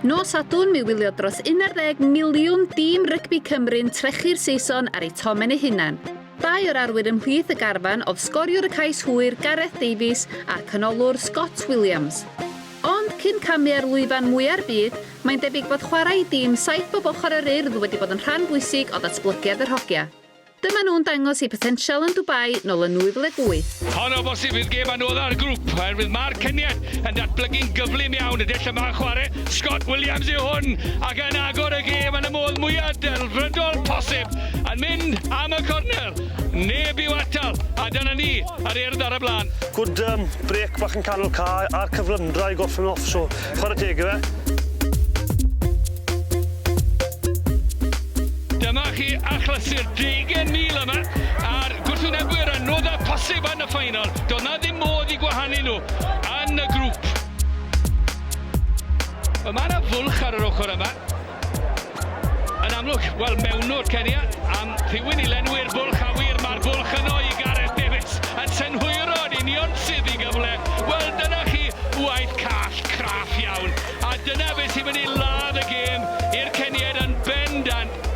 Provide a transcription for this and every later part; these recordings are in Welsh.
Nos Sadwrn mi wylio dros 11 miliwn dîm rygbi Cymru'n trechu'r Saeson ar eu tomen eu hunan. Dau o'r arwyr ymhlith y garfan oedd sgoriwr y cais hwyr Gareth Davies a'r canolwr Scott Williams. Ond cyn camu ar lwyfan mwya'r byd, mae'n debyg bod chwarae i dîm saith bob ochr yr Urdd wedi bod yn rhan bwysig o ddatblygiad yr hogia. Dyma nhw'n dangos eu potensial yn Dubai nol yn 2008. Hon o bosib fydd gêm anodda'r grŵp oherwydd mae'r cyniet yn datblygu'n gyflym iawn y dull yma o chwarae, Scott Williams yw hwn ac yn agor y gêm yn y modd mwya' delfrydol posib, yn mynd am y cornel, neb i'w atal a dyna ni, yr Urdd ar y blaen. Good brêc bach yn canol cae a'r cyflymdra i gorffen off so Chwarae teg iddo fe. Dyma chi achlysur deugain mil yma a'r gwrthwynebwyr a nodau posib yn y ffainal. Doedd na ddim modd i gwahanu nhw yn y grŵp. Mae yna fwlch ar yr ochr yma. Yn amlwg, wel, mewnwr Kenya am rhywun i lenwi'r bwlch awyr, mae'r bwlch yno i Gareth Davies, yn synhwyro yn union sydd i gyfle. Wel, dyna chi waith call, craff iawn, a dyna beth sy'n mynd i ladd y gêm i'r Keniaid yn bendant.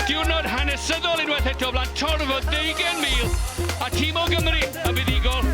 Diwrnod hanesyddol unwaith eto o flaen torf o ddeugain mil, a tîm o Gymru yn fuddugol.